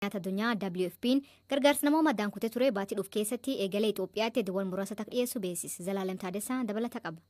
Nyaata Addunyaa, WFPn, gargaarsa namoomaa addaan kutee ture baatii dhufu keessatti eegalee Itoophiyaatti iddoowwan muraasatti akka dhiyeessu beeksise. Zalaalem Taadessaa dabalata qaba.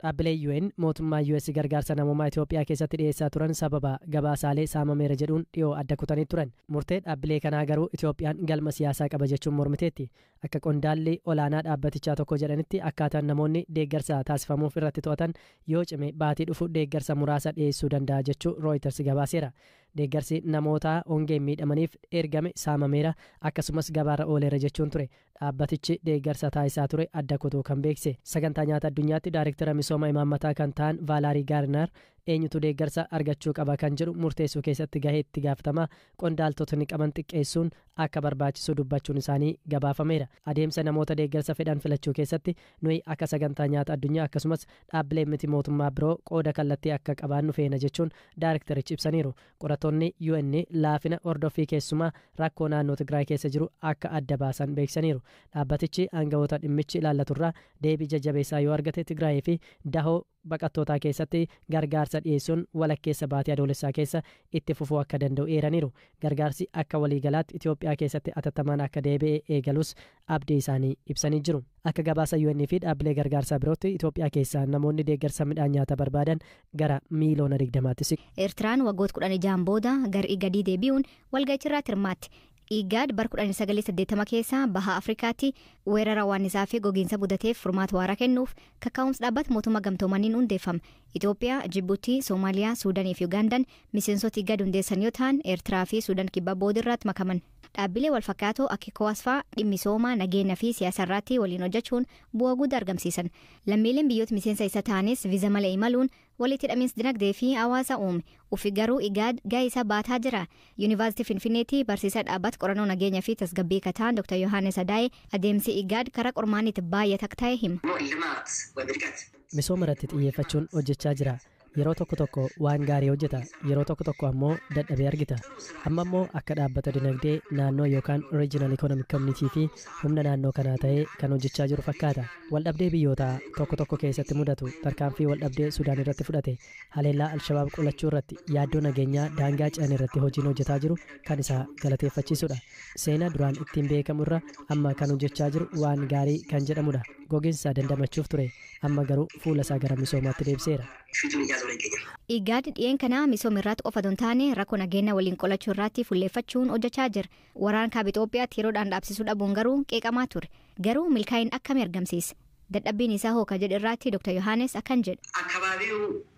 Dhaabbileen UN mootummaa US gargaarsa namoomaa Itoophiyaa keessatti dhiyeessaa turan sababa gabaasaalee saamameera jedhuun dhiyoo adda kutanii turan. Murtee dhaabbilee kanaa garuu Itoophiyaan galma siyaasaa qaba jechuun mormiteetti. Akka qondaalli olaanaa dhaabbatichaa tokko jedhanitti akkaataan namoonni deeggarsa taasifamuuf irratti to'atan yoo cime baatii dhufu deeggarsa muraasa dhiyeessuu danda'a jechuu Rooyiters gabaaseera. Deeggarsi namoota hongeen miidhamaniif ergame saamameera, akkasumas gabaarra ooleera jechuun ture dhaabbatichi deeggarsa taasisaa ture adda kutuu kan beeksise. Sagantaa Nyaata Addunyaatti Daarektara Misooma Imaammataa kan ta'an Vaalaarii Gaarinaar, eenyutu deeggarsa argachuu qaba kan jedhu murteessuu keessatti gahee itti gaafatamaa qondaaltotni qaban xiqqeessuun akka barbaachisu dubbachuun isaanii gabaafameera. Adeemsa namoota deeggarsa fedhan filachuu keessatti, nuyi akka Sagantaa Nyaata Addunyaa, akkasumas dhaabbileen miti mootummaa biroo qooda kallattii akka qabaannu feena jechuun daarektarichi ibsaniiru. Qorattoonni UN laafina hordoffii keessumaa rakkoo naannoo Tigraay keessa jiru akka adda baasan beeksisaniiru. Dhaabbatichi aangawoota dhimmichi ilaallaturraa deebii jajjabeessaa yoo argate Tigraayii fi dahoo baqattootaa keessatti gargaarsa dhiyeessuun walakkeessa baatii Adoolessaa keessa itti fufuu akka danda'u eeraniiru. Gargaarsi akka waliigalaatti Itoophiyaa keessatti atattamaan akka deebi'e eegalus abdii isaanii ibsanii jiru. Akka gabaasa UN fi dhaabbilee gargaarsaa birootti Itoophiyaa keessaa namoonni deeggarsa midhaan nyaataa barbaadan gara miiliyoona 20tti siqu. Eertiraan waggoota 16n booda gar Igadii deebi'uun walga'ichirraatti hirmaatte. Igaad bar 1980 keessa baha Afrikaatti weerara waannisaa fi gogiinsa mudateef furmaata waaraa kennuuf kakkaa'umsa dhaabbata mootummaa gamtoomaniin hundeeffame. Itoophiyaa, Jibuutii, Soomaaliyaa, Suudanii fi Ugaandaan miseensota Igaad hundeessan yoo ta'an, Eertiraa fi Suudaan Kibbaa booda irraatti makaman. Dhaabbilee walfakkaatoo akka ECOWAS faa dhimmisooma, nageenya fi siyaasa irraatti waliin hojjachuun bu'a gudda argamsiisan. Lammiileen biyyoota miseensa isa ta'anis viza male imaluun walitti hidhamiins dinagdee fi hawaasa uume. Ufi garuu IGAD gahee isaa baataa jira. Yunivaasitii Finfinneetti barsiisaa dhaabbata qorannoo nageenya fi tasgabbii ka ta'an Dr. Yohaannis Adaayee adeemsi IGAD karaa qormaanni itti baay'ata akka ta'e hima. Misooma irratti xiyyeeffachuun hojjachaa jira. Yeroo tokko tokko waan gaarii hojjeta, yeroo tokko tokko ammoo dadhabee argita. Amma immoo akka dhaabbata dinagdee naannoo yookaan Regional Economic Community fi humna naannoo kanaa ta'ee kan hojjechaa jiru fakkaata. Waldhabdee biyyoota tokko tokko keessatti mudatu, tarkaanfii waldhabdee Sudaan irratti fudhate, haleellaa Alshabaab qolachuu irratti, yaaddoo nageenyaa daangaa ce'an irratti hojiin hojjetaa jiru kan isaa galateeffachiisudha. Seenaa duraan ittiin beekamu irra amma kan hojjechaa jiru waan gaarii kan jedhamudha. Gogiinsa dandamachuuf ture. Amma garuu fuula isaa gara misoomaatti deebiseera. Igaad dhiyeen kana misoom irraatti qofa don taane rakko nageenna waliin qolachuu irraatti fulleeffachuun hojjachaa jira. Waraan kaaba Ixoophiyaatti yeroodhaan dhaabsisuu dhabuun garuu qeeqamaa ture. Garuu milkaa'in akkami argamsiise? Dadhabbiin isaa hoo ka jedhe irraatti Dr. Yohaanes akkan jedha. Akkabaabiyu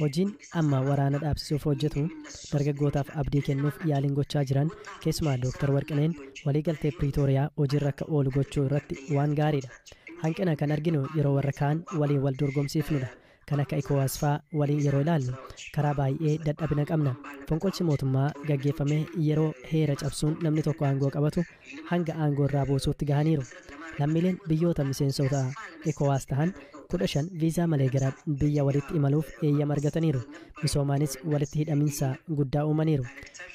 Hojiin amma waraana dhaabsisuuf hojjetu dargaggootaaf abdii kennuuf yaaliin gochaa jiran keessumaa Dooktar Warqineen walii galtee Piriitooriyaa hojiirra akka oolu gochuu irratti waan gaariidha. Hanqina kan arginu yeroo warra kaan waliin wal dorgomsiifnudha. Kan akka Ecowas faa waliin yeroo ilaallu karaa baay'ee dadhabina qabna. Fonqolchi mootummaa gaggeeffame yeroo heera cabsuun namni tokko aangoo qabatu hanga aangoo irraa buusuutti gahaniiru. Lammiileen biyyoota miseensoota Ecowas tahan 15 viizaa malee gara biyya waliitti imaluuf eeyyama argataniiru. Misoomaanis walitti hidhaminsa guddaa uumaniiru.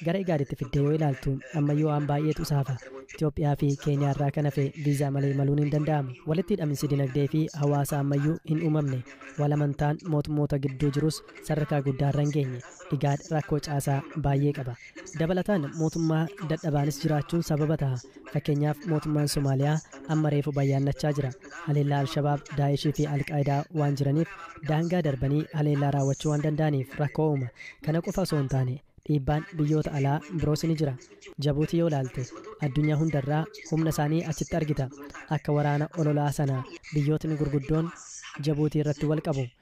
Gara Igaaditti fiddee yoo ilaaltu ammayyuu waan baay'eetu isa hafa. Itoophiyaa fi Keeniyaa irraa kan hafe viizaa malee imaluun hin danda'amu. Walitti hidhaminsi dinagdee fi hawaasaa ammayyuu hin uumamne. Wal amantaan mootummoota gidduu jirus sadarkaa guddaa irra hin geenye. Igaad rakkoo caasaa baay'ee qaba. Dabalataan mootummaa dadhabaanis jiraachuun sababa taha. Fakkeenyaaf mootummaan Somaaliyaa amma reefu bayyaannachaa jira. Haleellaa Al-Shabaab, Daa'eshii fi Al-Qaayidaa waan jiraniif daangaa darbanii haleellaa raawwachuu waan danda'aniif rakkoo uuma. Kana qofa osoo hin taane dhiibbaan biyyoota alaa biroos ni jira. Jabuutii yoo ilaalte addunyaa hundarraa humna isaanii achitti argita. Akka waraana ololaa sana biyyootni gurguddoon Jabuutii irratti wal qabu.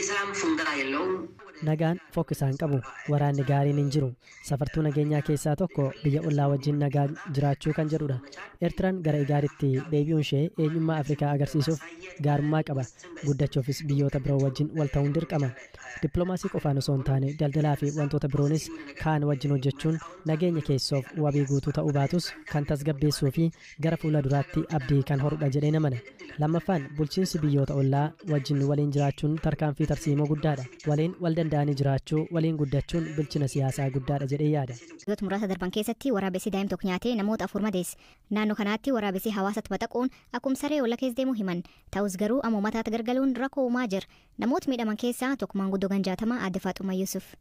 Isaan fundaa yellowm wada Nagaan fokkisaa hin qabu. Waraanni gaariin hin jiru. Safartuu nageenyaa keessaa tokko biyya ollaa wajjin nagaan jiraachuu kan jedhudha. Ertiran gara Igaaditti deebi'uunshee eenyummaa Afrikaa agarsiisuuf gaarummaa qaba. Guddachuufis biyyoota biroo wajjin wal ta'uun dirqama. Dippilomaasii qofaan osoo hin taane daldalaafi wantoota biroonis kaan wajjin hojjechuun nageenya keessoof wabii guutuu ta'uu baatus kan tasgabbeessuufi gara fuula duraatti abdii kan horudha jedheen amana. Lammaffaan, bulchiinsi biyyoota ollaa wajjin waliin jiraachuun tarkaanfii tarsiimoo guddaadha. Waliin wal danda'anii jiraachuu, waliin guddachuun bilchina siyaasaa guddaadha jedhee yaada. Ji'oota muraasa darban keessatti waraabessi daa'im tokko nyaatee namoota afur madeesse. Naannoo kanaatti waraabessi hawaasatti baxaquun akkum saree olla keessa deemu himan. Ta'us garuu amma ummataatti gargaluun rakkoo uumaa jira. Namoota miidhaman keessaa tokko maanguddoo gan 60 Aadde Faaxummaa Yuusuf.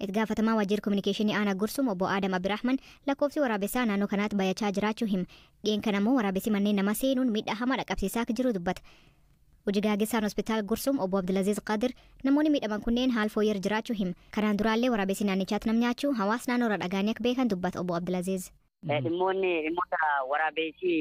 Itti gaafatamaan Waajjira Kominikeeshinii Aanaa Gursum Obbo Aadam Abdirahman lakkoofsi waraabessaa naannoo kanaatti bayachaa jiraachuu hima. Dhiyeen kana ammoo waraabessi manneen namaa seenuun miidhaa hamaa dhaqqabsiisaa akka jiru dubbata. Hojii gaageessaan Hospitaal Gursum Obbo Abdulaziz Qadir namoonni miidhaman kunneen haal fooyyeerra jiraachuu hima. Kanaan duraallee waraabessi naannichaatti nam nyaachuu hawaas naannoorra dhagaanii akka beekan dubbata Obbo Abdulaziz. Eh, Dhimmoonni dhimmoota waraabeessi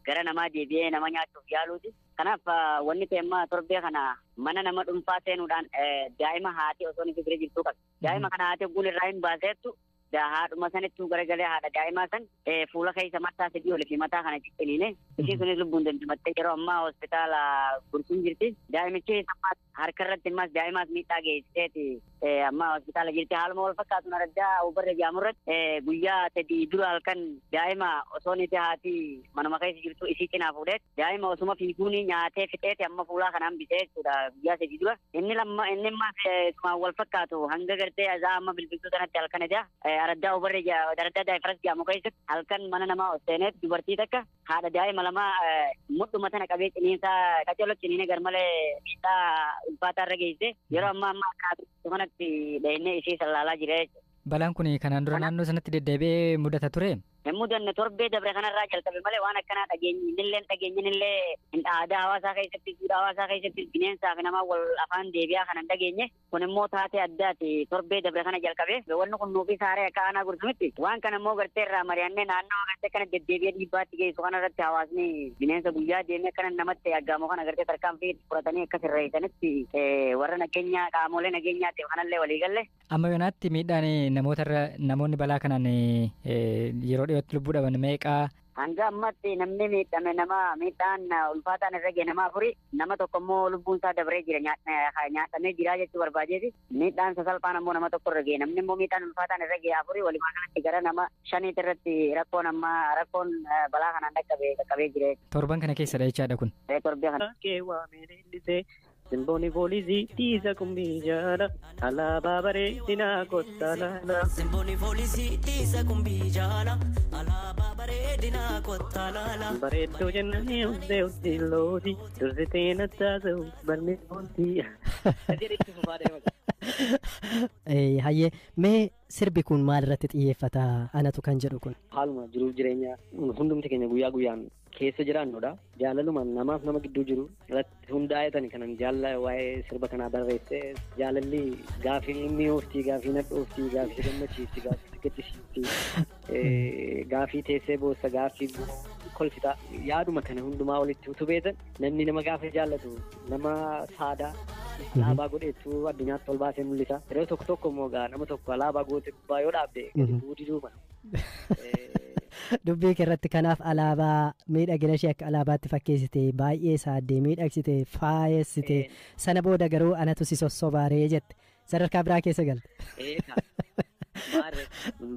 gara namaa deebi'ee nama nyaachuuf yaaluuti. Kanaaf ah, wanni ta'e amma torbee kana mana nama dhuunfaa seenuudhaan eh, daa'ima haati osoo inni bira jirtuu qabdi. Daa'ima kana haati ogguun irraa hin baaseettu da- haadhuma sanittuu garagalee haadha daa'imaa san eh, fuula keessa mataa sadii olii fi mataa kana cicciniine ishiin sunis lubbuun dandimattee yeroo ammaa hospitaala gurguun jirti. Daa'imichi sammaa Harka irratti ammas daa'imaas miidhaa geessiseeti amma hospitaala jirti. Haaluma wal fakkaatuun araddaa Awubarra jedhamu irratti guyyaa sadii dura halkan daa'ima osoo niti haati manuma keessa jirtu isii cinaa fuudheet daa'ima osuma fiiguun nyaatee fixeeti amma fuulaa kana hambisee jechuudha guyyaa sadii dura. Inni lamma inni ammas isumaan wal fakkaatu hanga gartee azaa amma bilbiltuu sanatti halkan edaa araddaa Awubarra araddaa Daayifaras jedhamu keessatti halkan mana namaa ol seeneet dubartii takka Haadha daa'ima lamaa mudhuma tana qabee ciniinsaa qaccolo ciniine garmalee miidhaa ulfaataa irra geesse yeroo ammaa ammaa kaatu kanatti dhahinee ishee sallaalaa jira jechuudha. Balaan kun kanaan dura naannoo sanatti deddeebi'ee mudata ture. Hin mudanne torbee dabre kanarraa jalqabe malee waan akkanaa dhageenyi innillee dhageenyin illee aadaa hawaasaa keessatti duudhaa hawaasaa keessatti bineensaa fi namaa wal afaan deebi'aa kan hin dhageenye Kun immoo taatee addaati. Torbee dabre kana jalqabee wanni kun nuufis haaree akka aanaa gursumitti. Waan kana immoo gartee irraa mari'annee naannawa gartee akkana deddeebi'ee dhiibbaatti geessu kana irratti hawaasni bineensa guyyaa deemee akkana namatti aggaamu kana gartee tarkaanfii fudhatanii akka sirreessanitti warra nageenyaa qaamolee nageenyaatiif kanallee walii galle. Amma yoonaatti miidhaan namoota irra namoonni balaa kanaan yeroo dhiyootti lubbuu dhaban meeqaa Hanga ammaatti namni miidhame nama miidhaan ulfaataan irra gahe nama afuri. Nama tokko immoo lubbuun isaa dabree jira nyaadhamee jira jechuu barbaadeeti. Miidhaan sasalphaan ammoo nama tokko irra gahe. Namni immoo miidhaan ulfaataan irra gahe afuri walumaa galatti gara nama shaniitti irratti rakkoon amma rakkoon balaa kanaan dhaqqabe qaqqabee jira. Torban kana keessadha jechaadha kun. Torbee kana. Kee waamee leellisee Simbooni foolisi dhiisa qumbii jaala alaabaa baree dinaa kottaa laala. Simbooni foolisi dhiisa qumbii jaala alaabaa baree dinaa kottaa laala. Bareedduu jennaan uffee uffee looti dursitee nattaasa'u balmi looti. Hayyee mee sirbi kun maal irratti xiyyeeffata anatu kan jedhu kun. Haaluma jiruuf jireenya hundumti keenya guyyaa guyyaan keessa jiraannudha. Jaalaluma namaaf nama gidduu jiru irratti hundaa'eetani kanan jaalla waa'ee sirba kanaa barreesse. Jaalalli gaafii inni oofti, gaafii nadhoofti, gaafii gammachiifti, gaafii gaddisiifti, gaafii teessee boossa, gaafii kolfita. Yaaduma kana hundumaa walitti utubeetan namni nama gaafa jaallatu nama saadaa alaabaa godheetu addunyaatti ol baasee mul'isa. Yeroo tokko tokko immoo nama tokko alaabaa goote gubbaa yoo dhaabde gadi bu'uu diduu mala. dubbii kee irratti kanaaf alaabaa miidhagina ishee akka alaabaatti fakkeessite baay'ee saaddee miidhagsite faayessite sana booda garuu anatu si sossobaaree jette sadarkaa biraa keessa galte.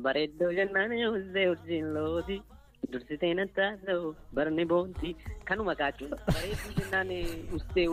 Bareeddoo jennaan uzzee urjiin looti dursitee nattaa ta'u barni boonti kanuma kaachuu bareedduu jennaan uzzee